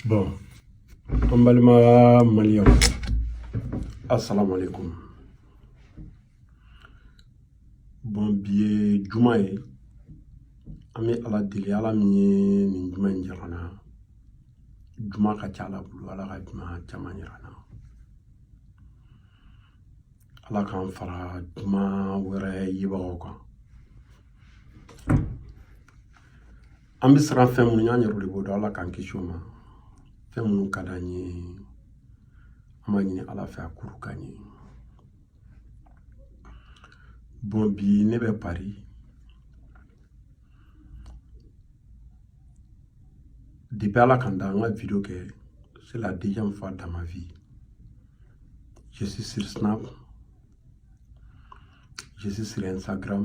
bon an balima maliyɛnw asalaamaaleykum bon bi ye juma ye an bɛ ala deli ala min ye nin juma in jira an na juma ka ca ala bolo ala ka juma caman jira an na ala k'an fara juma wɛrɛ yebagaw kan An bɛ siran fɛn minnu ɲɛ an yɛrɛ de b'o dɔn ala k'an kisi o ma fɛn minnu ka d'an ye an b'a ɲini ala fɛ a k'olu k'an ye bon bi ne bɛ Paris depuis ala ka n da an ka video kɛ c'est la deuxième fois dans ma vie je suis sur snap je suis sur instagram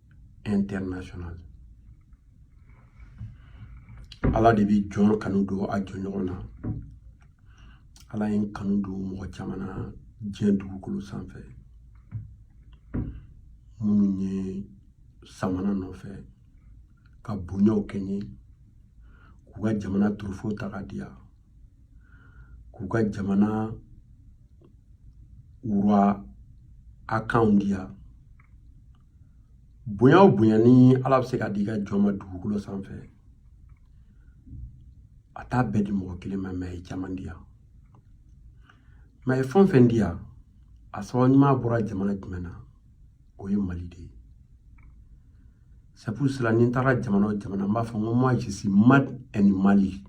international ala de bɛ jɔn kanu don a jɔn ɲɔgɔn na ala ye n kanu don mɔgɔ caman na diɲɛ dugukolo sanfɛ minnu ye samana nɔfɛ ka bonyaw kɛ n ye k'u ka jamana trophée ta ka di yan k'u ka jamana wura akanw di yan bonya o bonya ni ala bɛ se ka di i ka jɔn ma dugukolo sanfɛ a t'a bɛɛ di mɔgɔ kelen ma mais a ye caman di yan mais a ye fɛn o fɛn di yan a sababu ɲuman bɔra jamana jumɛn na o ye mali de ye c'est pour cela ni n taara jamana o jamana n b'a fɔ n ko moi je suis made in mali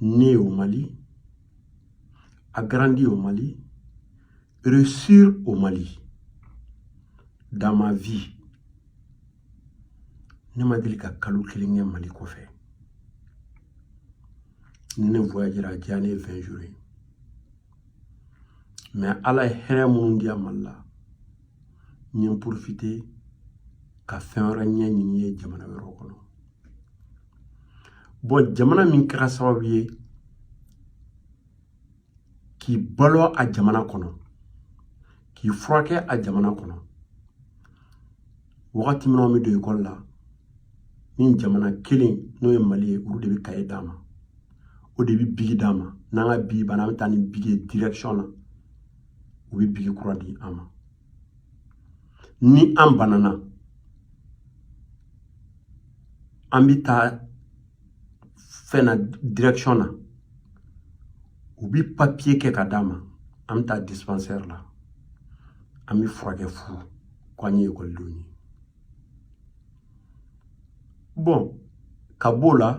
né au mali a grandi au mali Réussir au Mali, dans ma vie, ne ma deli ka kalo kelen kɛ Mali kɔfɛ. Ni ne voyagera a janyalen ye 20 jours ye. Mais Ala ye hɛrɛ minnu di yan Mali la, n ye profiter ka fɛn wɛrɛ ɲɛ ɲini ye jamana wɛrɛw kɔnɔ. Bon jamana min kɛra sababu ye k'i balo a jamana kɔnɔ k'i furakɛ a jamana kɔnɔ wagati min an bɛ don ekɔli la nin jamana kelen n'o ye mali ye olu de bɛ kaye d'an ma o de bɛ bigi d'an ma n'an ka bigi banna an bɛ taa ni bigi ye direction na u bɛ bigi kura di an ma ni an banana an bɛ taa fɛn na direction na u bi papiye kɛ ka d'a ma an bɛ taa dispensaire la an bɛ furakɛ fu ko an ye ekɔlidenw ye bɔn ka b'o la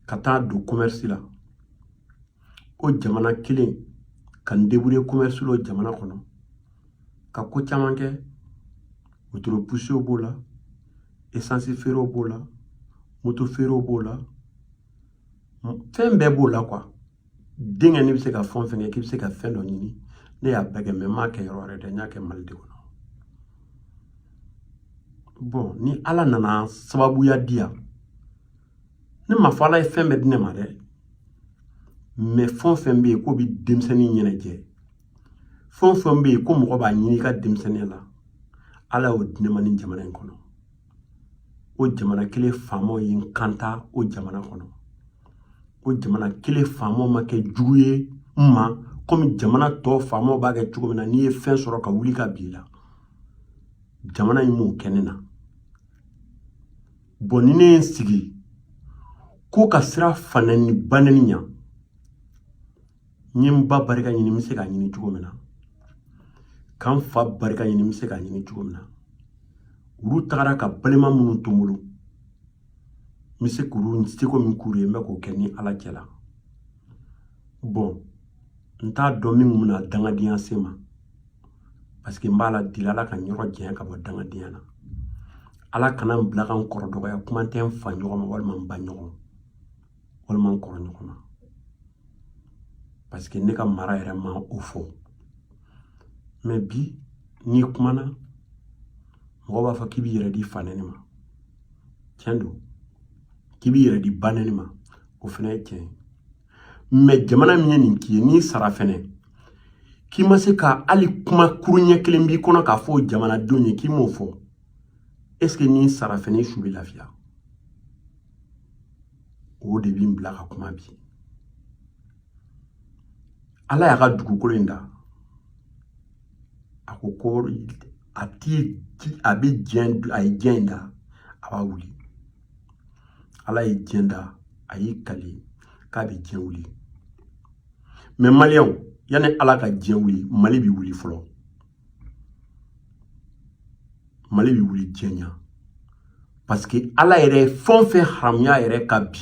ka taa don commerce la o jamana kelen ka n deburiye commerce la o jamana kɔnɔ ka ko caman kɛ wotoro puse o b'o la esansi feere o b'o la moto feere o b'o la fɛn bɛɛ b'o la kuwa denkɛ n'i bɛ se ka fɛn fɛn kɛ k'i bɛ se ka fɛn dɔ ɲini ne y'a bɛɛ kɛ mɛ n m'a kɛ yɔrɔ wɛrɛ dɛ n y'a kɛ mali de kɔnɔ bɔn ni ala nana sababuya di yan ne ma fɔ ala ye fɛn bɛɛ di ne ma dɛ mɛ fɛn fɛn bɛ yen k'o bɛ denmisɛnnin ɲɛnajɛ fɛn fɛn bɛ yen ko mɔgɔ b'a ɲini i ka denmisɛnninya la ala y'o di ne ma nin jamana in kɔnɔ o jamana kelen faamaw ye n kanta o jamana kɔnɔ o jamana kelen faamaw ma kɛ jugu ye n ma komi jamana tɔ faamaw b'a kɛ cogo min na n'i ye fɛn sɔrɔ ka wuli k'a b'i la jamana in m'o kɛ ne na bɔn ni ne ye n sigi ko ka siran fanɛni banɛni ɲa n ye n ba barika ɲini n bɛ se k'a ɲini cogo min na ka n fa barika ɲini n bɛ se k'a ɲini cogo min na olu tagara ka balima minnu to n bolo n bɛ se k'olu n seko min k'olu ye n bɛ k'o kɛ ni ala cɛ la bɔn n t'a dɔn min kun bɛna dangadenya se n ma parce que n b'ala deli ala ka n yɔrɔ janya ka bɔ dangadenya na ala kana n bila ka n kɔrɔ dɔgɔya kuma tɛ n fa ɲɔgɔn ma walima n ba ɲɔgɔn walima n kɔrɔ ɲɔgɔn ma parce que ne ka mara yɛrɛ ma o fɔ mɛ bi n'i kumana mɔgɔ b'a fɔ k'i b'i yɛrɛ di fanɛni ma tiɲɛ don k'i b'i yɛrɛ di banɛni ma o fana ye tiɲɛ ye mɛ jamana min ye nin k'i ye n'i sara fɛnɛ k'i ma se ka hali kuma kuru ɲɛ kelen b'i kɔnɔ k'a fɔ jamanadenw ye k'i m'o fɔ est ce que n'i sara fɛnɛ i su bɛ lafiya o de bɛ n bila ka kuma bi ala y'a ka dugukolo in da a ko ko a ti a bɛ diɲɛ a ye diɲɛ in da a b'a wuli ala ye diɲɛ da a y'i kali k'a bɛ diɲɛ wuli mɛ maliyɛnw yanni ala ka diɲɛ wuli mali bɛ wuli fɔlɔ mali bɛ wuli diɲɛ ɲɛ parce que ala yɛrɛ ye fɛn o fɛn haramuya yɛrɛ ka bi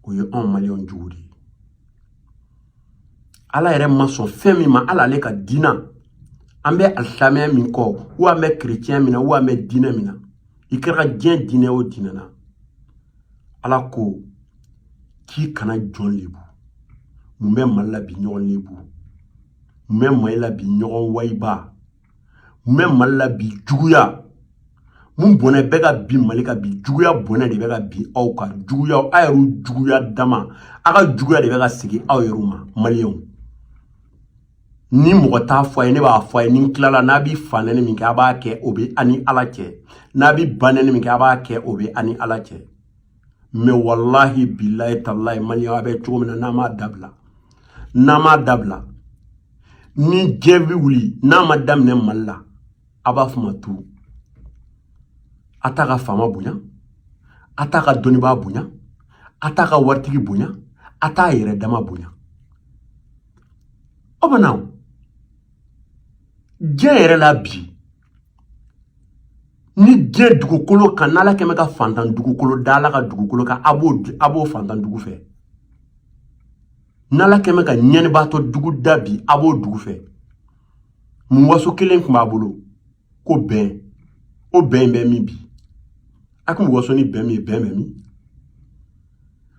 o ye anw maliyɛnw jogo de ye ala yɛrɛ ma sɔn fɛn min ma ala ale ka diina an bɛ alisamɛya min kɔ wo an bɛ kerecɛn min na wo an bɛ diina min na i kɛra diɲɛ diinɛ o diinɛ na ala ko k'i kana jɔn lebu mun bɛ mali la bi ɲɔgɔn lebu mun bɛ mali la bi ɲɔgɔn wayiba mun bɛ mali la bi juguya mun bɔnɛ bɛ ka bin mali kan bi juguya bɔnɛ de bɛ ka bin aw kan juguya aw yɛrɛw juguya dama a ka juguya de bɛ ka segin aw yɛrɛw ma maliyɛnw ni mɔgɔ t'a fɔ a ye ne b'a fɔ a ye ni n tilala n'a bi fanɛni min kɛ a b'a kɛ o bɛ a ni ala cɛ n'a bi banɛni min kɛ a b'a kɛ o bɛ a ni ala cɛ mɛ walahi bilayi talayi maliyɛnw a bɛ cogo min na n'a m'a dabila n'a m'a dabila ni diɲɛ bɛ wuli n'a ma daminɛ mali la a b'a fɔ n ma tu a t'a ka faama bonya a t'a ka dɔnnibaa bonya a t'a ka waritigi bonya a t'a yɛrɛ dama bonya O banna diɲɛ yɛrɛ la bi ni diɲɛ dugukolo kan n'ala kɛmɛ ka fantan dugukolo da ala ka dugukolo kan a b'o a b'o fantan dugu fɛ n'ala kɛmɛ ka ɲɛnibaatɔ dugu da bi a b'o dugu fɛ mun waso kelen tun b'a bolo ko bɛn o bɛn in bɛ min bi a kun bɛ waso ni bɛn min ye bɛn bɛ min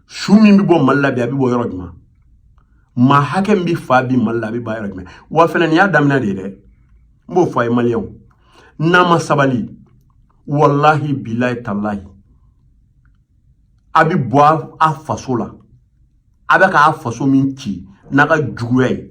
su min bɛ bɔ mali la bi a bɛ bɔ yɔrɔ jumɛn maa hakɛ min bɛ fa bi mali la a bɛ fa yɔrɔ jumɛn wa fana nin y'a daminɛ de ye dɛ n b'o fɔ a ye maliyɛnw n'a ma sabali walahi bilayi talayi a bɛ bɔ a faso la a bɛ k'a faso min ci n'a ka juguya ye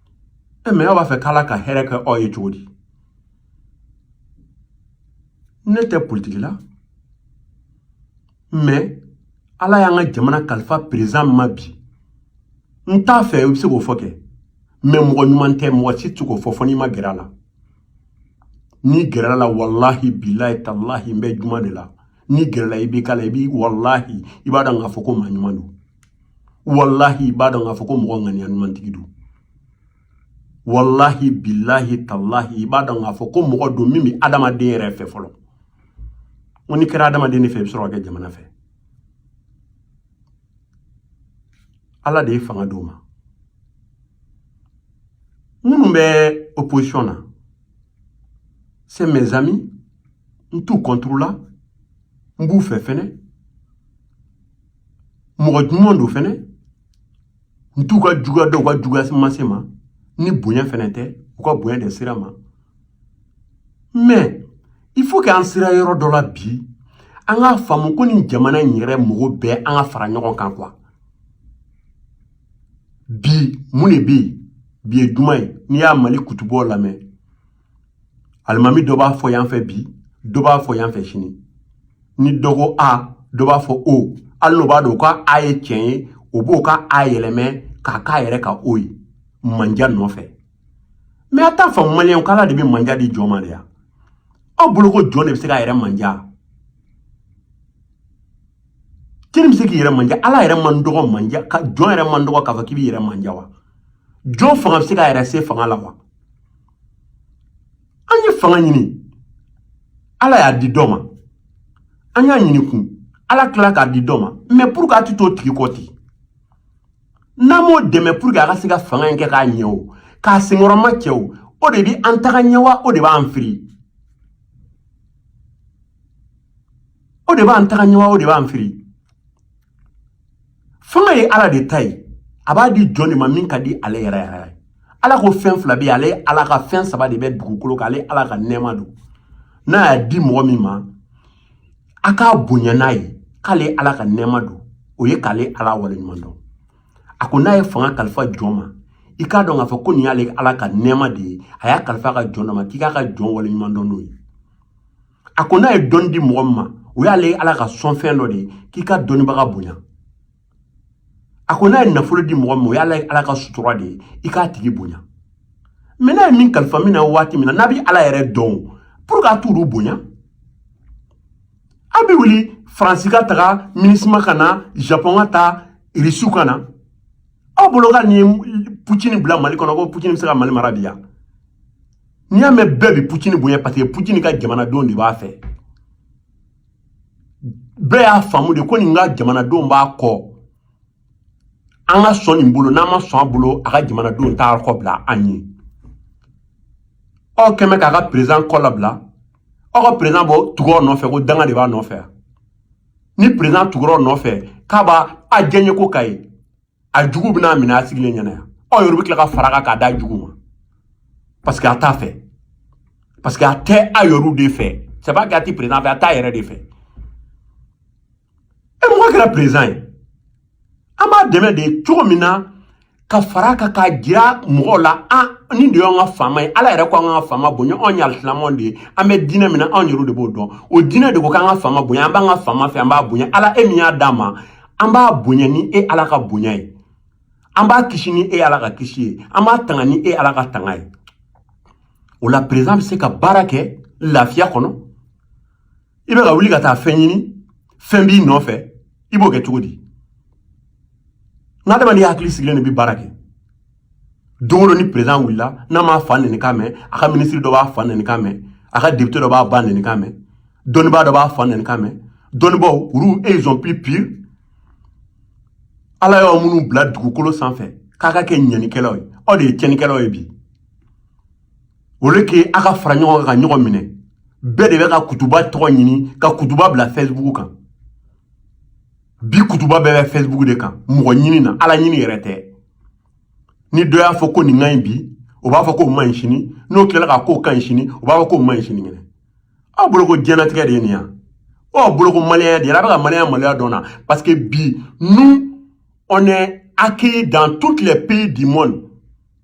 e mɛ aw b'a fɛ k'ala ka hɛrɛ kɛ aw ye cogo di ne tɛ politiki la mɛ ala y'an ka jamana kalifa perezan ma bi n t'a fɛ i bɛ se k'o fɔ kɛ mɛ mɔgɔ ɲuman tɛ mɔgɔ si tɛ k'o fɔ fɔ n'i ma gɛrɛ a la n'i gɛrɛla a la walahi bilahi talahi n bɛ juma de la n'i gɛrɛla i b'i k'a la i b'i walahi i b'a dɔn k'a fɔ ko maa ɲuman don walahi i b'a dɔn k'a fɔ ko mɔgɔ ŋaniya ɲumantigi don walahi bilahi talahi i b'a dɔn k'a fɔ ko mɔgɔ don min bɛ adamaden yɛrɛ fɛ fɔlɔ ko n'i kɛra adamaden de fɛ i bɛ sɔrɔ ka kɛ jamana fɛ ala de ye fanga d'o ma minnu bɛ opposition na c'est mes amis n t'u contre la n b'u fɛ fɛnɛ mɔgɔ ɲuman don fɛnɛ n t'u ka juguya dɔn u ka juguya ma se n ma ni bonya fɛnɛ tɛ u ka bonya de sera n ma mɛ il faut que an sera yɔrɔ dɔ la bi an k'a faamu ko nin jamana in yɛrɛ mɔgɔ bɛɛ an ka fara ɲɔgɔn kan quoi bi mun de bɛ yen bi ye juma ye n'i y'a mali kutubaw lamɛn alimami dɔ b'a fɔ yan fɛ bi dɔ b'a fɔ yan fɛ sini ni dɔ ko a dɔ b'a fɔ o hali n'o b'a dɔn ko a ye tiɲɛ ye o b'o ka a yɛlɛmɛ k'a k'a yɛrɛ ka o ye manja nɔfɛ mais a t'a faamu maliyɛnw k'ala de bɛ manja di jɔn ma de ya aw bolo ko jɔn de bɛ se k'a yɛrɛ manja k'i bɛ se k'i yɛrɛ manja ala yɛrɛ man dɔgɔ manja ka jɔn yɛrɛ man dɔgɔ k'a fɔ k'i b'i yɛrɛ manja wa jɔn fanga bɛ se k'a yɛrɛ se fanga la wa an ye fanga ɲini ala y'a di dɔ ma an y'a ɲini kun ala tila k'a di dɔ ma mais pourquoi a ti t'o tigi kɔ ten n'an m'o dɛmɛ pour que a ka se ka fanga in kɛ k'a ɲɛ o k'a senkɔrɔmacɛ o o de bi an taga ɲɛ wa o de b'an firi o de b'an taga ɲɛ wa o de b'an firi fanga ye ala de ta ye a b'a di jɔn de ma min ka di ale yɛrɛ yɛrɛ ye ala ko fɛn fila bɛ yen ale ala ka fɛn saba de bɛ dugukolo kan ale ala ka nɛɛma don n'a y'a di mɔgɔ min ma a k'a bonya n'a ye k'ale ala ka nɛɛma don o ye k'ale ala waleɲuman dɔn a ko n'a ye fanga kalifa jɔn ma i k'a dɔn k'a fɔ ko nin y'ale ala ka nɛɛma de ye a y'a kalifa a ka jɔn dɔ ma k'i k'a ka jɔn waleɲuman dɔn n'o ye a ko n'a ye dɔnni di mɔgɔ min ma o y'ale ala ka sɔnfɛn dɔ de ye k'i ka dɔnnibaga bonya a ko n'a ye nafolo di mɔgɔ min ma o y'ale ala ka sutura de ye i k'a tigi bonya mais n'a ye min kalifa min na waati min na n'a bɛ ala yɛrɛ dɔn pourquoi a t'olu bonya a bɛ wuli faransi ka taga minusma ka na japɔn ka taa irisiw ka na aw bolo ka nin putini bila mali kɔnɔ ko putini bɛ se ka mali mara bi yan n'i y'a mɛn bɛɛ bi pucini bonya parce que pucini ka jamanadenw de b'a fɛ bɛɛ y'a faamu de ko nin ka jamanadenw b'a kɔ an ka sɔn nin bolo n'an ma sɔn a bolo a ka jamanadenw t'a kɔ bila an ye aw kɛmɛ k'a ka président kɔ labila aw ka président bɔ tugur'o nɔfɛ ko danga de b'a nɔfɛ ni président tugur'o nɔfɛ k'a b'a a diɲɛko ka ye a jugu bɛna minɛ a sigilen ɲɛna yan aw yɛrɛ bɛ tila ka fara a kan k'a d'a jugu ma parce que a t'a fɛ parce que a tɛ a yɛrɛw de fɛ c'est pas k'a ti président fɛ a t'a yɛrɛ de fɛ e mɔgɔ kɛra président ye an b'a dɛmɛ de cogo min na ka fara a kan k'a jira mɔgɔw la nin de y'an ka faama ye ala yɛrɛ ko an ka faama bonya anw ye alisilamɛw de ye an bɛ diinɛ min na anw yɛrɛw de b'o dɔn o diinɛ de ko k'an ka faama bonya an b'an ka faama fɛ an b'a bonya ala e min y'a d'a ma an b'a bonya ni e ala ka bonya ye an b'a kisi ni e ala ka kisi ye an b'a tanga ni e ala ka tanga ye o la président bɛ se ka baara kɛ lafiya kɔnɔ i bɛ ka wuli ka taa fɛn ɲini fɛn b'i nɔfɛ i b'o kɛ cogo di n'adamaden hakili sigilen de bɛ baara kɛ don o don ni président wulila n'a m'a fa nɛni kan mɛn a ka minisiri dɔ b'a fa nɛni kan mɛn a ka depite dɔ b'a ba nɛni kan mɛn dɔnnibaa dɔ b'a fa nɛni kan mɛn dɔnnibaaw olu ils ont plus pire ala y'aw minnu bila dugukolo sanfɛ k'a ka kɛ ɲɛnikɛlaw ye aw de ye tiɲɛnikɛlaw ye bi au lieu que a ka fara ɲɔgɔn kan ka ɲɔgɔn minɛ bɛɛ de bɛ ka kutuba tɔgɔ ɲini ka kutuba bila facebook kan bi kutuba bɛɛ bɛ facebook de kan mɔgɔ ɲini na ala ɲini yɛrɛ tɛ ni dɔ y'a fɔ ko nin ka ɲi bi o b'a fɔ k'o man ɲi sini n'o tilala k'a k'o ka ɲi sini o b'a fɔ k'o man ɲi sinikɛnɛ aw bolo ko diɲɛlatigɛ de ye nin yan aw bolo ko maliyɛnya de ye a bɛ ka maliyɛnya maloya dɔn na parce que bi nous on est accueillis dans toutes les pays du monde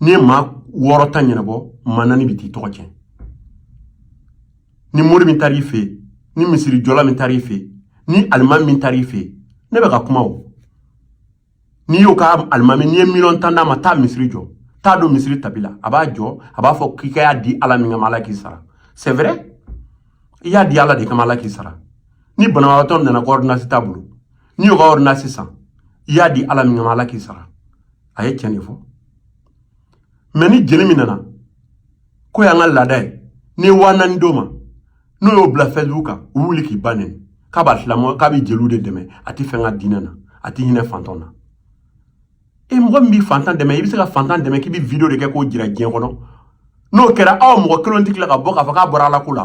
n'i ye maa wɔɔrɔ ta ɲɛnabɔ maa naani bɛ t'i tɔgɔ cɛn ni mori min taar'i fɛ yen ni misiri jɔla min taar'i fɛ yen ni alimami min taar'i fɛ yen ne bɛ ka kuma o n'i y'o ka alimami n'i ye miliyɔn tan d'a ma taa misiri jɔ t'a don misiri tapi la a b'a jɔ a b'a fɔ k'i ka y'a di ala min kama ala k'i sara c'est vrai i y'a di ala de kama ala k'i sara ni banabagatɔ nana ko ordonnance t'a bolo n'i y'o ka ordonnance san i y'a di ala min kama ala k'i sara a ye tiɲɛ de fɔ mais ni jeli min nana k'o y'an ka laada ye n'i ye waa naani d'o ma n'o y'o bila facebook kan u wuli k'i ba nɛni k'a b'a silamɛ k'a bɛ jeliw de dɛmɛ a tɛ fɛn kɛ diinɛ na a tɛ hinɛ fantanw na e mɔgɔ min b'i fantan dɛmɛ i bɛ se ka fantan dɛmɛ k'i bɛ video de kɛ k'o jira diɲɛ kɔnɔ n'o kɛra aw mɔgɔ kelen tɛ tila ka bɔ k'a fɔ k'a bɔra ala ko la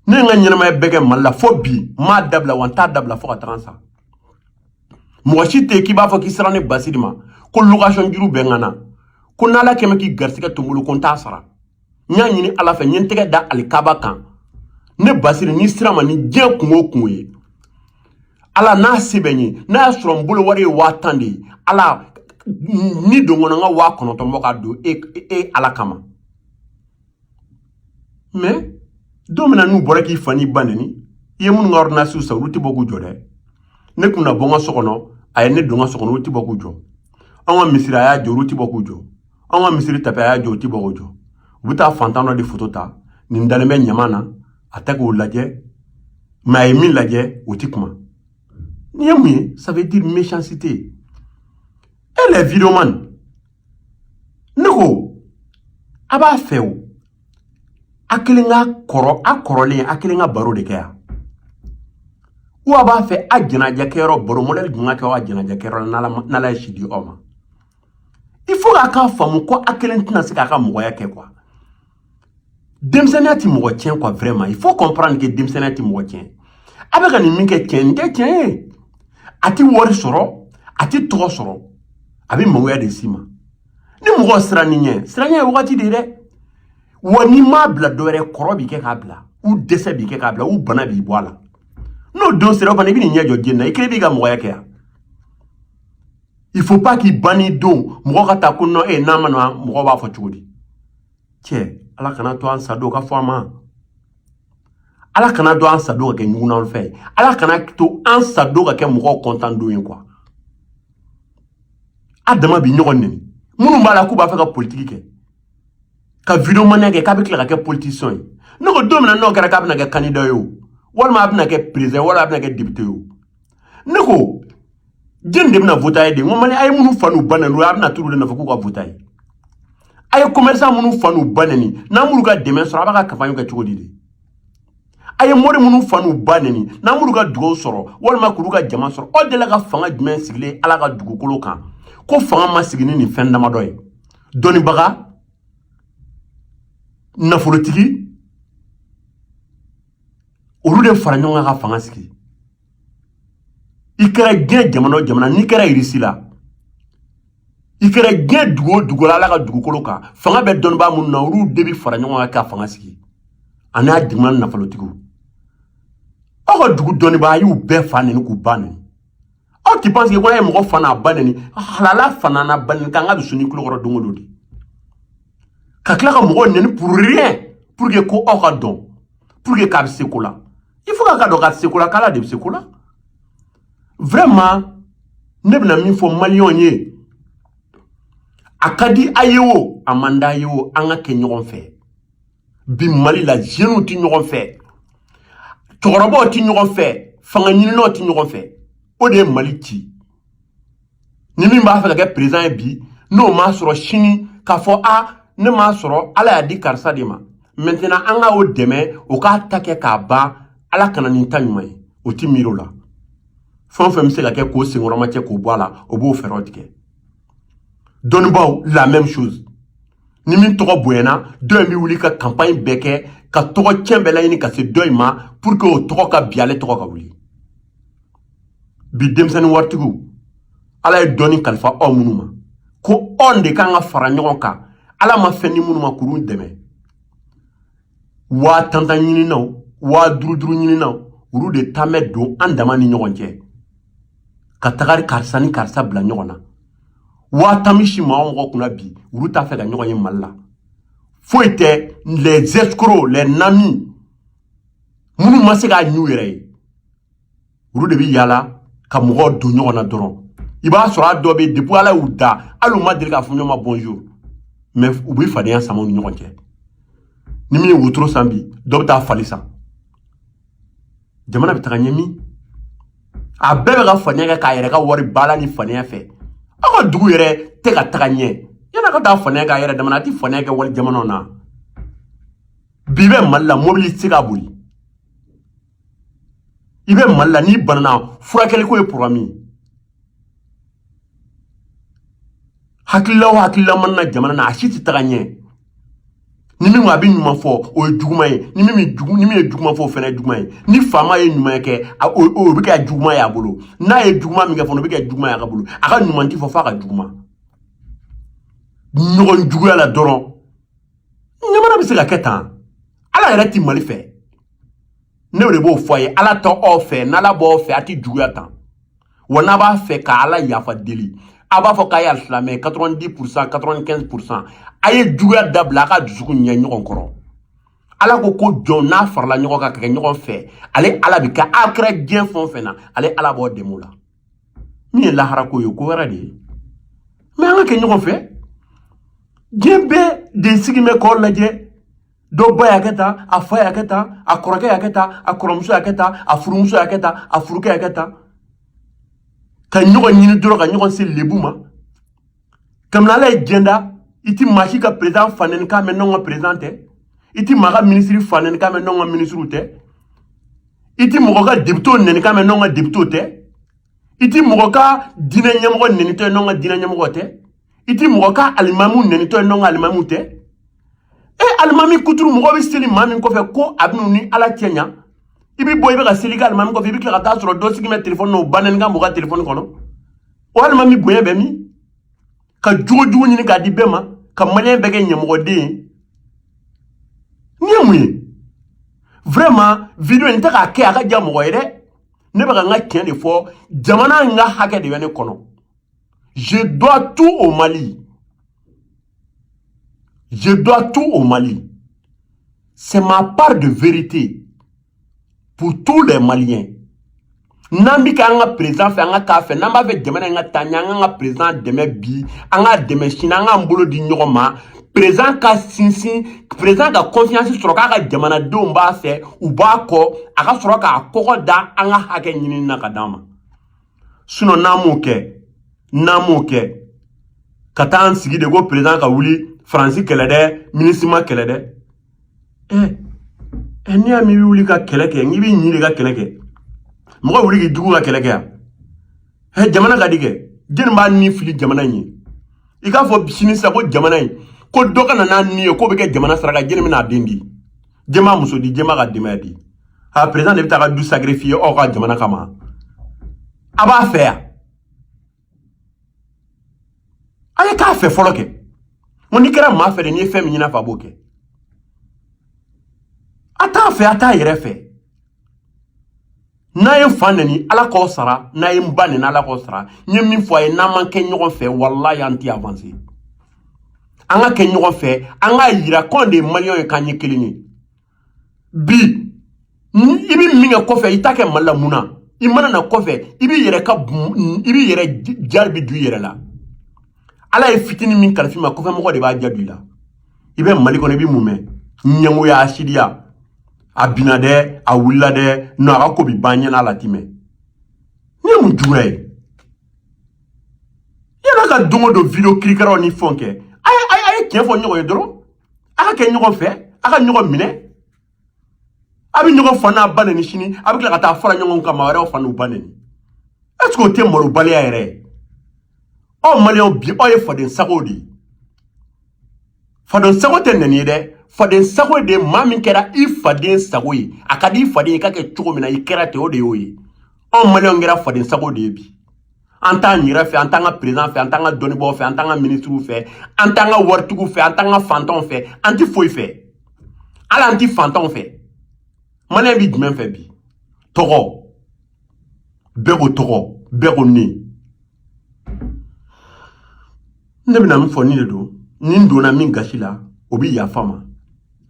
ne ye n ka ɲɛnamaya bɛɛ kɛ mali la fo bi n m'a dabila wa n t'a dabila fo ka taga n sa mɔgɔ si tɛ k'i b'a fɔ k'i sera ne basiri ma ko location juru bɛ n ka na ko n'ala kɛmɛ k'i garisigɛ to n bolo ko n t'a sara n y'a ɲini ala fɛ n ye n tɛgɛ da alikaba kan ne basiri n'i sera n ma ni diɲɛ kungo o kungo ye ala n'a se bɛ n ye n'a y'a sɔrɔ n bolo wari ye waa tan de ye ala ni don kɔnɔ n ka waa kɔnɔntɔn bɔ k'a don e, e, e ala kama mais don min na n'u bɔra k'i fa n'i ba neni i ye minnu ka ordonnancew san olu tɛ bɔ k'u jɔ dɛ ne kun na bɔ n ka so kɔnɔ a ye ne don n ka so kɔnɔ olu tɛ bɔ k'u jɔ an ka misiri a y'a jɔ olu tɛ bɔ k'u jɔ an ka misiri tapi a y'a jɔ u tɛ bɔ k'u jɔ u bɛ taa fantan dɔ de foto ta nin dalen bɛ ɲama na a tɛ k'o lajɛ mais a ye min lajɛ o tɛ kuma nin ye mun ye ça veut dire méchanceté eh les vidéoman ne ko a b'a fɛ o a kelen ka kɔrɔ a kɔrɔlen a kelen ka baro de kɛ yan ou a b'a fɛ a jɛnajɛkɛyɔrɔ baro mɔdɛli jumɛn ka kɛ a jɛnajɛkɛyɔrɔ n'ala ye si di aw ma il faut k'a k'a faamu ko a kelen tɛna se k'a ka mɔgɔya kɛ quoi denmisɛnninya ti mɔgɔ tiɲɛ quoi vraiment il faut comprendre que denmisɛnninya ti mɔgɔ tiɲɛ a bɛ ka nin min kɛ tiɲɛ nin tɛ tiɲɛ ye a ti wari sɔrɔ a ti tɔgɔ sɔrɔ a bɛ mɔgɔya de s'i ma ni mɔgɔ siran n'i ɲɛ siranɲɛ ye wagati de ye dɛ wa n'i m'a bila dɔ wɛrɛ kɔrɔ b'i kɛ k'a bila ou dɛsɛ b'i kɛ k'a bila ou bana b'i bɔ a la n'o don sera o fana i bɛn'i ɲɛ jɔ diɲɛ na i kelen b'i ka mɔgɔya kɛ yan il faut pas k'i banni don mɔgɔ ka taa ko non n'a ma na mɔgɔ b'a fɔ cogo di cɛ ala kana to an sadon ka fɔ an ma ala kana to an sadon ka kɛ ɲugunan fɛ ala kana to an sadon ka kɛ mɔgɔw kɔntan don ye quoi a dama bi ɲɔgɔn neni minnu b'a la k'u b'a fɛ ka politiki kɛ ka videomaniya kɛ k'a bɛ tila ka kɛ politicien ye ne ko don min na n'o kɛra k'a bɛna kɛ kandida ye o walima a bɛna kɛ perezan walima a bɛna kɛ depite ye o ne ko jɛni de bɛna vot'a ye de n ko mali a ye minnu fa n'u ba neni a bɛna t'olu de nɔfɛ k'u ka vot'a ye a ye commerçant minnu fa n'u ba neni n'a m'olu ka dɛmɛ sɔrɔ a b'a ka kanpaɲi kɛ cogo di de a ye mori minnu fa n'u ba neni n'a m'olu ka dugaw sɔrɔ walima k'olu ka jama sɔrɔ aw delila ka fanga jumɛn sigilen ala ka dugukolo kan ko fanga ma sigi ni nin fɛn damadɔ ye dɔnnibaga nafolotigi olu de fara ɲɔgɔn kan ka fanga sigi i kɛra diɲɛ jamana o jamana n'i kɛra irisi la i kɛra diɲɛ dugu o dugu la ala ka dugukolo kan fanga bɛ dɔnnibaa minnu na olu de bɛ fara ɲɔgɔn kan ka fanga sigi ani a jamana nafolotigiw aw ka dugu dɔnnibaa a y'u bɛɛ fa neni k'u ba neni aw ti panse ko n'a ye mɔgɔ fa n'a ba neni halala fa n'a ba neni k'an ka dusu ni kulokɔrɔ don o don de ka tila ka mɔgɔw neni pour rien pour que ko aw k'a dɔn pour que k'a bɛ se ko la il faut k'a k'a dɔn k'a tɛ se ko la k'ala de bɛ se ko la vraiment ne bɛna min fɔ maliyɛnw ye a ka di a ye o a man d'a ye o an ka kɛ ɲɔgɔn fɛ bi mali la jeunes tɛ ɲɔgɔn fɛ cɛkɔrɔbaw tɛ ɲɔgɔn fɛ fanga ɲininaw tɛ ɲɔgɔn fɛ o de ye mali ci ni min b'a fɛ ka kɛ perezan ye bi n'o m'a sɔrɔ sini k'a fɔ a ne m'a sɔrɔ ala y'a di karisa de ma mɛntɛnan an ka o dɛmɛ o k'a ta kɛ k'a ban ala kana nin ta ɲuman ye o ti miiri o la fɛn o fɛn bɛ se ka kɛ k'o senkɔrɔmacɛ k'o bɔ a la o b'o fɛɛrɛw tigɛ dɔnnibaaw la même chose ni min tɔgɔ bonyana dɔ in bɛ wuli ka kanpaɲi bɛɛ kɛ ka tɔgɔ cɛn bɛɛ laɲini ka se dɔ in ma pour que o tɔgɔ ka bin ale tɔgɔ ka wuli bi denmisɛnnin waritigiw ala ye dɔɔni kalifa aw minnu ma ko anw de kan ka fara ɲɔgɔn kan ala ma fɛn di minnu ma k'olu dɛmɛ waa tantan ɲininnaw waa duruduru ɲininnaw olu de tan bɛ don an dama ni ɲɔgɔn cɛ ka taga karisa ni karisa bila ɲɔgɔn na waa tan bɛ si maa mɔgɔ kunna bi olu t'a fɛ ka ɲɔgɔn ye mali la foyi tɛ les escrocs les nami minnu ma se k'a ɲ'u yɛrɛ ye olu de bɛ yaala ka mɔgɔw don ɲɔgɔn na dɔrɔn i b'a sɔrɔ a dɔ bɛ depuis ala y'u da hali u ma deli k'a fɔ ɲɔgɔn ma bonjour mais u bɛ fadenya sama u ni ɲɔgɔn cɛ ni min ye wotoro san bi dɔ bɛ taa fali san jamana bɛ taga ɲɛ min a bɛɛ bɛ ka fadenya kɛ k'a yɛrɛ ka wari baala ni fadenya fɛ aw ka dugu yɛrɛ tɛ ka taga ɲɛ yann'a ka taa fadenya k'a yɛrɛ dama na a tɛ fadenya kɛ wali jamanaw na bi bɛ mali la mobili tɛ se ka boli i bɛ mali la n'i banana furakɛliko ye poroblɛmu ye hakilila o hakilila mana na jamana na a si tɛ taga ɲɛ ni min a bɛ ɲuman fɔ o ye juguman ye ni min ni min ye juguman fɔ o fana ye juguman ye ni faama ye ɲuman kɛ o o bɛ kɛ juguman ye a bolo n'a ye juguman min kɛ fana o bɛ kɛ juguman ye a ka bolo a ka ɲuman ti fɔ f'a ka juguman ɲɔgɔn juguya la dɔrɔn jamana bɛ se ka kɛ tan ala yɛrɛ ti mali fɛ ne de b'o fɔ a ye ala t'aw fɛ n'ala b'aw fɛ a ti juguya tan wa n'a b'a fɛ ka ala yafa deli a b'a fɔ k'a ye alisilamɛ 90 pourcent 95 pourcent a ye juguya dabila a ka dusukun ɲɛ ɲɔgɔn kɔrɔ ala ko ko jɔn n'a farala ɲɔgɔn kan ka kɛ ɲɔgɔn fɛ ale ala bi kɛ a kɛra diɲɛ fɛn o fɛn na ale ala b'o dɛmɛ o la min ye lahara ko ye ko wɛrɛ de ye mais an ka kɛ ɲɔgɔn fɛ diɲɛ bɛɛ de sigi bɛ k'aw lajɛ dɔ ba y'a kɛ tan a fa y'a kɛ tan a kɔrɔkɛ y'a kɛ tan a kɔrɔmuso y'a kɛ tan a furumuso y'a kɛ tan a furukɛ y'a kɛ tan ka ɲɔgɔn ɲini dɔrɔn ka ɲɔgɔn se lebu ma kabini ala ye diɲɛ da i ti maa si ka président fanɛnikan mɛn n'anw ka président tɛ i ti maa ka minisiri fanɛnikan mɛn n'anw ka minisiriw tɛ i ti mɔgɔ ka depitew nɛnikan mɛn n'anw ka depitew tɛ i ti mɔgɔ ka diinɛ ɲɛmɔgɔ nɛnitɔ ye n'anw ka diinɛ ɲɛmɔgɔ tɛ i ti mɔgɔ ka alimamu nɛnitɔ ye n'anw ka alimamu tɛ e alimami kuturu mɔgɔ bɛ seli maa min kɔfɛ ko a bɛn'u ni ala cɛ ɲa i bɛ bɔ i bɛ ka seli kɛ alimami kɔfɛ i bɛ tila ka taa sɔrɔ dɔ sigi bɛ telefɔni na o banɛnikan mɔgɔ ka telefɔni kɔnɔ o alimami bonya bɛ min ka jogo jugu ɲini k'a di bɛɛ ma ka maliyɛn bɛɛ kɛ ɲamɔgɔden ye nin ye mun ye vraiment video in tɛ k'a kɛ a ka diya mɔgɔ ye dɛ ne bɛ ka n ka tiɲɛ de fɔ jamana in ka hakɛ de bɛ ne kɔnɔ je dois tout au mali je dois tout au mali c'est ma part de vérité pour tous les maliens n'an bɛ kɛ an ka perezidan fɛ an ka k'a fɛ n'an b'a fɛ jamana in ka taa ɲɛ an k'an ka perezidan dɛmɛ bi an k'a dɛmɛ sini an k'an bolo di ɲɔgɔn ma perezidan ka sinsin perezidan ka confiance sɔrɔ k'a ka jamanadenw b'a fɛ u b'a kɔ a ka sɔrɔ k'a kɔgɔ da an ka hakɛ ɲinini na ka d'an ma sinɔn n'an m'o kɛ n'an m'o kɛ ka taa an sigi de ko perezidan ka wuli faransi kɛlɛ dɛ minisima kɛlɛ dɛ ɛ ɛ n'i y'a mɛn i bɛ wuli ka kɛlɛ kɛ n'i bɛ ɲin de ka kɛlɛ kɛ mɔgɔ wuli k'i jugu ka kɛlɛ kɛ yan ɛ jamana ka di kɛ jɛni b'a ni fili jamana in ye i k'a fɔ sini sisan ko jamana in ko dɔ ka na n'a ni ye k'o bɛ kɛ jamana saraka jɛni bɛna a den di jɛn b'a muso di jɛn b'a ka denbaya di a perezidan de bɛ t'a ka du sacrifier aw ka jamana kama a b'a fɛ yan a ye k'a fɛ fɔlɔ kɛ n n'i kɛra maa fɛ de n'i ye fɛn min ɲin'a fɛ a b'o kɛ a t'a fɛ a t'a yɛrɛ fɛ n'a ye fa neni ala k'aw sara n'a ye n ba neni ala k'aw sara n ye min fɔ a ye n'an ma kɛ ɲɔgɔn fɛ walayi an tɛ avanse an ka kɛ ɲɔgɔn fɛ an k'a yira k'anw de ye maliyɛnw ye k'an ye kelen ye bi i bɛ min kɛ kɔfɛ i t'a kɛ mali la mun na i mana na kɔfɛ i b'i yɛrɛ ka i b'i yɛrɛ jari bi du i yɛrɛ la ala ye fitini min kalif'i ma kɔfɛ mɔgɔ de b'a jaabi la i bɛ mali kɔnɔ i bɛ mun mɛn ɲɛngoya hasidiya a binna dɛ a wulila dɛ non a ka ko bi ban ɲinan ale ti mɛɛn nin ye mun juguya ye yann'a ka don o don video kirikaraw ni fɛnw kɛ a ye a ye tiɲɛ fɔ ɲɔgɔn ye dɔrɔn a ka kɛ ɲɔgɔn fɛ a ka ɲɔgɔn minɛ a bɛ ɲɔgɔn fa n'a ba neni sini a bɛ tila ka taa fara ɲɔgɔn kan maa wɛrɛw fa n'u ba neni est ce que o tɛ malobaliya yɛrɛ ye aw maliyɛnw bi aw ye faden sago de ye faden sago tɛ neni ye dɛ faden sago de maa min kɛra i faden sago ye a ka di i faden ye i ka kɛ cogo min na i kɛra ten o de y'o ye anw maliyɛnw kɛra faden sago de ye bi an t'an yɛrɛ fɛ an t'an ka perezidan fɛ an t'an ka dɔnnibaaw fɛ an t'an ka minisiriw fɛ an t'an ka waritigiw fɛ an t'an ka fantanw fɛ an ti foyi fɛ hali an ti fantanw fɛ maliyɛn bi jumɛn fɛ bi tɔgɔ bɛɛ ko tɔgɔ bɛɛ ko ne ne bɛna min fɔ nin de don ni n donna min gasi la o bɛ yafa n ma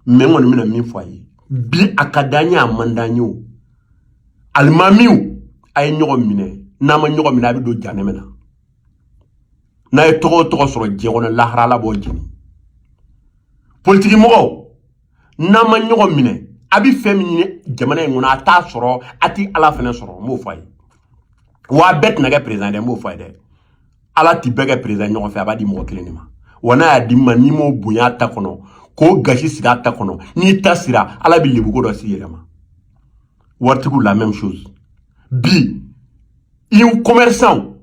mɛ n kɔni bɛna min fɔ a ye bi a ka d'a ye a man d'a ye o alimamiw a ye ɲɔgɔn minɛ n'a ma ɲɔgɔn minɛ a bɛ don janɛmɛ na n'a ye tɔgɔ o tɔgɔ sɔrɔ diɲɛ kɔnɔ lahara ala b'aw jeni politiki mɔgɔw n'a ma ɲɔgɔn minɛ a bɛ fɛn min ɲini jamana in kɔnɔ a t'a sɔrɔ a tɛ ala fana sɔrɔ n b'o fɔ a ye wa a bɛɛ tɛna kɛ perezidan dɛ n b'o fɔ a ye dɛ ala ti bɛɛ kɛ président ɲɔgɔn fɛ a b'a di mɔgɔ kelen de ma wa n'a y'a d'i ma n'i m'o bonya ta kɔnɔ k'o gasi sigi a ta kɔnɔ n'i ta sira ala bɛ lebuko dɔ s'i yɛrɛ ma waritigiw la même chose bi i commerçant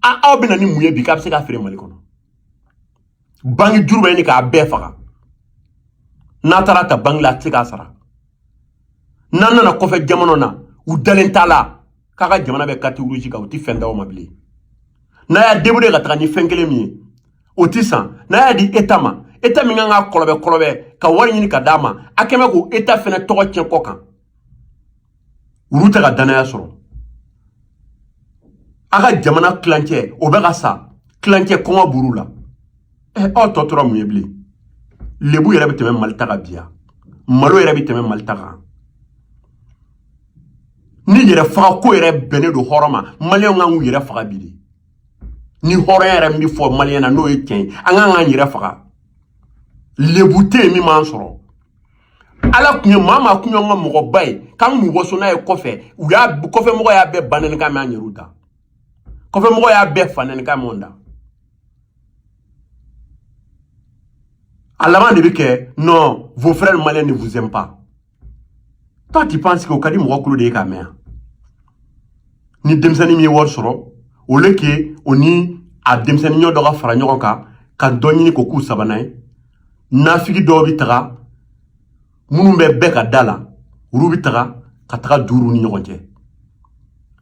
aw bɛ na ni mun ye bi k'a bɛ se k'a feere mali kɔnɔ banki juru bɛ ɲini k'a bɛɛ faga n'a taara ta banki la a tɛ se k'a sara n'a nana kɔfɛ jamana na u dalen t'a la k'a ka jamana bɛ carte rouge kan u tɛ fɛn d'aw ma bilen n'a y'a débrouiller ka taga ni fɛn kelen min ye o tɛ san n'a y'a di eta ma eta min kan ka kɔlɔbɛ kɔlɔbɛ ka wari ɲini ka d'a ma a kɛ mɛ k'o eta fɛnɛ tɔgɔ tiɲɛ kɔ kan olu tɛ ka dannaya sɔrɔ a ka jamana tilancɛ o bɛ ka sa tilancɛ kɔngɔ b'olu la ɛ eh, aw tɔ tora mun ye bilen lebu yɛrɛ bɛ tɛmɛ mali ta kan bi yan malo yɛrɛ bɛ tɛmɛ mali ta kan ni yɛrɛ faga ko yɛrɛ bɛnnen don hɔrɔn ma maliyɛnw kan k'u yɛrɛ faga bi de ni hɔrɔnya yɛrɛ min bɛ fɔ maliyɛn na n'o ye tiɲɛ ye an kan k'an yɛrɛ faga lebu tɛ yen min m'an sɔrɔ ala tun ye maa maa tun y'an ka mɔgɔba ye k'an k'u waso n'a ye kɔfɛ u y'a kɔfɛ mɔgɔ y'a bɛɛ banɛni kan mɛn an yɛrɛw da kɔfɛ mɔgɔ y'a bɛɛ fanɛni kan mɛn da a laban de bɛ kɛ non vos frères maliens ne vous aiment pas toi tu penses que o ka di mɔgɔ kulo de ye k'a mɛn yan ni denmisɛnnin min ye wari sɔrɔ au lieu que o ni a denmisɛnnin ɲɔgɔn dɔ ka fara ɲɔgɔn kan ka dɔ ɲini k'o k'u sabanan ye nafigi dɔw bɛ taga minnu bɛ bɛɛ ka da la olu bɛ taga ka taga don olu ni ɲɔgɔn cɛ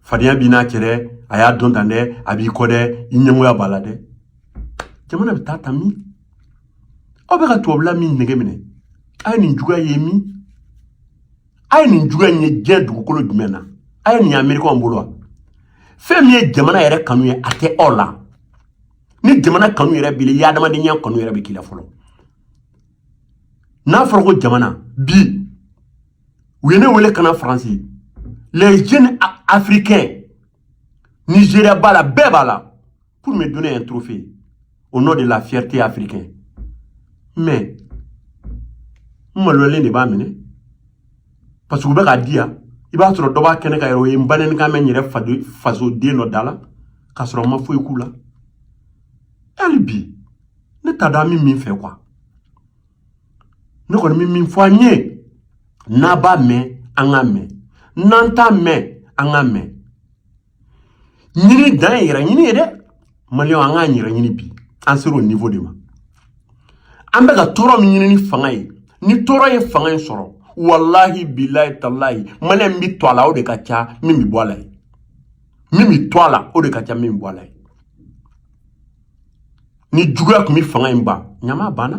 fadenya b'i n'a cɛ dɛ a y'a dɔn tan dɛ a b'i kɔ dɛ i ɲɛngoya b'a la dɛ jamana bɛ taa ta min aw bɛ ka tubabula min nege minɛ a ye nin juguya ye min a ye nin juguya in ye diɲɛ dugukolo jumɛn na a ye nin ye amerikɛnw bolo wa fɛn min ye jamana yɛrɛ kanu ye a tɛ aw la ni jamana kanu yɛrɛ b'i la i adamadenya kanu yɛrɛ bɛ k'i la fɔlɔ n'a fɔra ko jamana bi u ye ne wele ka na faransi les jeunes africains nigeria b'a la bɛɛ b'a la pour me donner un trophée au nom de la fierté africaine. Mais, n maloyalen de b'a minɛ parce que u bɛ k'a di yan i b'a sɔrɔ dɔ b'a kɛnɛ kan yɛrɛ o ye n banɛnikan mɛn n yɛrɛ fasoden dɔ da la k'a sɔrɔ n ma foyi k'u la hali bi ne t'a dɔn an bɛ min fɛ quoi ne kɔni bɛ min fɔ an ye n'an b'a mɛn an k'a mɛn n'an t'a mɛn an k'a mɛn ɲini dan ye yɛrɛ ɲini ye dɛ maliyɛnw an k'an yɛrɛ ɲini bi an sera o niveau de ma an bɛ ka tɔɔrɔ min ɲini ni fanga ye ni tɔɔrɔ ye fanga in sɔrɔ walahi bilayi talayi maliyɛn min bɛ to a la o de ka ca min bɛ bɔ a la ye min bɛ to a la o de ka ca min bɛ bɔ a la ye ni juguya tun bɛ fanga in ban ɲama banna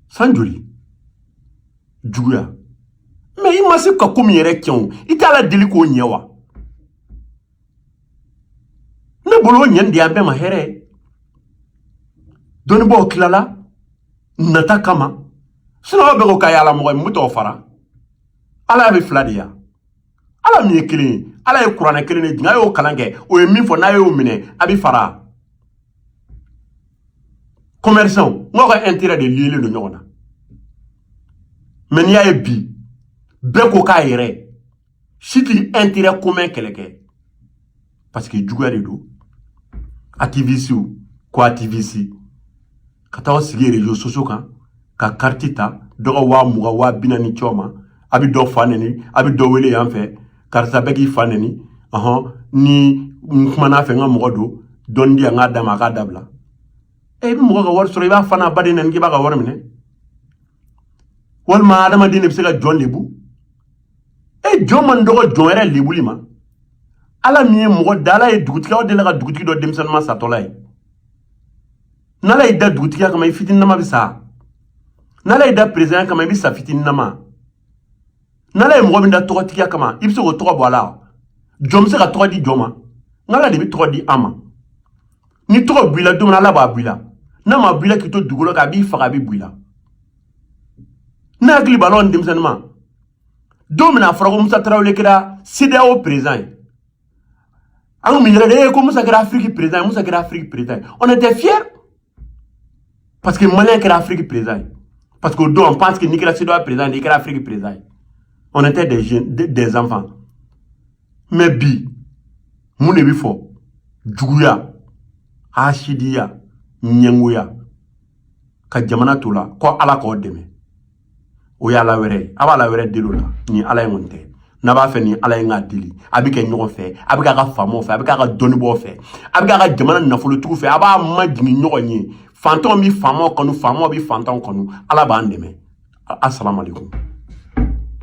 san joli juguya mais i ma se ka ko min yɛrɛ kɛ o i t'ala deli k'o ɲɛ wa ne bolo o ɲɛni de y'an bɛɛ ma hɛrɛ ye dɔnnibaaw tilala nata kama sinon bɛɛ ko k'a y'ala mɔgɔ ye mun bɛ t'aw fara ala y'a bɛ fila de yan ala min ye kelen ye ala ye kuranɛ kelen de jigin a y'o kalan kɛ o ye min fɔ n'a y'o minɛ a bɛ fara commerçant n'aw ka intérêt de lielen don ɲɔgɔn na mais n'i y'a ye bi bɛɛ ko k'a yɛrɛ si tɛ intérêt commun kɛlɛ kɛ parce que juguya de don activistew ko activiste ka taa aw sigi réseaux sociaux kan ka kariti ta dɔ ka waa mugan waa bi naani c'o ma a bɛ dɔ fa nɛni a bɛ dɔ wele yan fɛ karisa bɛ k'i fa nɛni ɔhɔn ni n kumana a fɛ n ka mɔgɔ don dɔɔni di yan n k'a d'a ma a k'a dabila e i bɛ mɔgɔ ka wari sɔrɔ i b'a fa n'a ba de nɛni k'i b'a ka wari minɛ walima adamaden de bɛ se ka jɔn lebu e jɔn man dɔgɔ jɔn yɛrɛ lebuli ma ala min ye mɔgɔ da ala ye dugutigi aw delila ka dugutigi dɔ denmisɛnninma satɔla ye n'ala y'i da dugutigiya kama i fitininama bɛ sa n'ala y'i da perezanya kama i bɛ sa fitininama n'ala ye mɔgɔ min da tɔgɔtigiya kama i bɛ se k'o tɔgɔ bɔ a la jɔn bɛ se ka tɔgɔ di jɔn ma nka ala de bɛ tɔgɔ di an ma ni tɔgɔ b'i la don min na ala b'a b'i la n'a ma b'i la k'i to dugukolo kan a b'i faga a bɛ b'i la ne hakili b'a la an denmisɛnninma don min na a fɔra ko musa tarawele kɛra CEDEAO perezan ye Anw bɛ yɛlɛ de ko Musa kɛra Afiriki perezan ye Musa kɛra Afiriki perezan ye on était fiers parce que Maliyɛn kɛra Afiriki perezan ye parce que o don on pense que n'i kɛra CEDEAO perezan ye i kɛra Afiriki perezan ye on était des jeunes des enfants mais bi mun de bɛ fɔ juguya hasidiya ɲɛngoya ka jamana to o la ko Ala k'aw dɛmɛ. o y'ala wɛrɛ ye a b'ala wɛrɛ deli o la nin ala in kɔni tɛ n'a b'a fɛ nin ala in k'a deli a bɛ kɛ ɲɔgɔn fɛ a bɛ k'a ka faamaw fɛ a bɛ k'a ka dɔnnibaaw fɛ a bɛ k'a ka jamana nafolotigiw fɛ a b'a majigin ɲɔgɔn ye fantanw bɛ faamaw kanu faamaw bɛ fantanw kanu ala b'an dɛmɛ asalaamaaleykum